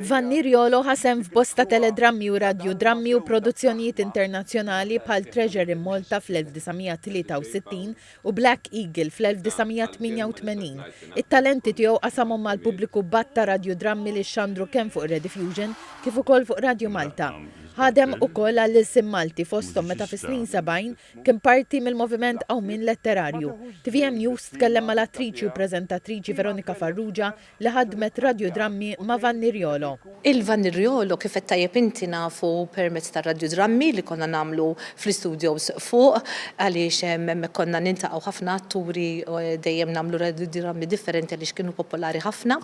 Vanni Riolo ħa sehem f'bosta teledrammi u radjudrammi u produzzjonijiet internazzjonali bħal Treasure in Malta fl-1963 u Black Eagle fl-1988. It-talenti tiegħu qasamhom mal-pubbliku b'għadd ta' radjudrammi li xxandru kemm fuq Rediffusion kif ukoll fuq Radju Malta. Ħadem ukoll għall-ilsien Malti fosthom meta fis-snin sebgħin kien parti mill-Moviment Qawmien Letterarju. Tvm News tkellem mal-attriċi u preżentatriċi Veronika Farrugia li ħaddmet radjudrammi ma' Vanni Riolo. Il-Vanni Riolo, kif qed tajjeb inti, nafu permezz tar-radjudrammi li konna nagħmlu fl-istudios fuq għaliex hemmhekk konna niltaqgħu ħafna atturi dejjem nagħmlu radjudrammi differenti għaliex kienu popolari ħafna.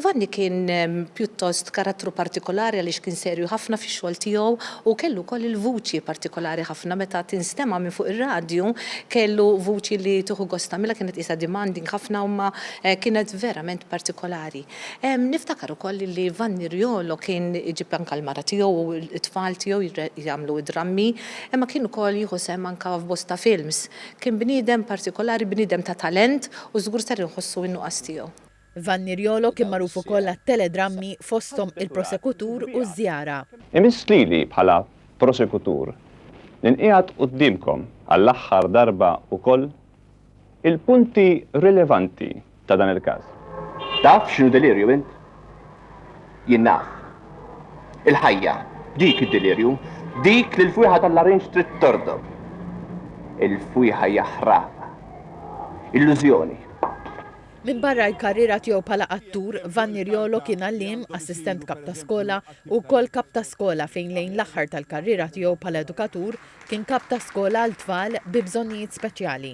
Vanni kien pjuttost karattru partikolari għaliex kien serju ħafna fix-xogħol tiegħu u kellu wkoll il-vuċi partikolari ħafna meta tinstema' minn fuq ir-radju kellu vuċi li tieħu gost tagħmilha kienet qisha demanding ħafna u ma Kienet verament partikolari. Niftakar ukoll li Vanni Riolo kien iġib anke l-mara tiegħu u t-tfal tiegħu jagħmlu d-drammi, imma kien ukoll jieħu sehem anke f'bosta films. Kien bniedem partikolari, bniedem ta' talent u żgur ser inħossu n-nuqqas tiegħu. Vanni Riolo kien magħruf ukoll għat-teledrammi fosthom Il-Prosekutur u Ż-Żjara. Imiss lili bħala Prosekutur li nqiegħed quddiemkom għall-aħħar darba wkoll Il-punti rilevanti ta' dan il-każ. Taf x'inhu delirju int? Jien naf. Il-ħajja, dik id-delirju, dik li l-fwieħa tal-larinġ trid tordog. Il-fwieħa hija ħraq. Illużjoni. Minbarra l-karriera tiegħu bħala attur, Vanni Riolo kien għalliem, assistent kap ta' skola, u wkoll kap ta' skola fejn lejn l-aħħar tal-karriera tiegħu bħala edukatur Kien kap ta' skola għal tfal bi bżonnijiet speċjali.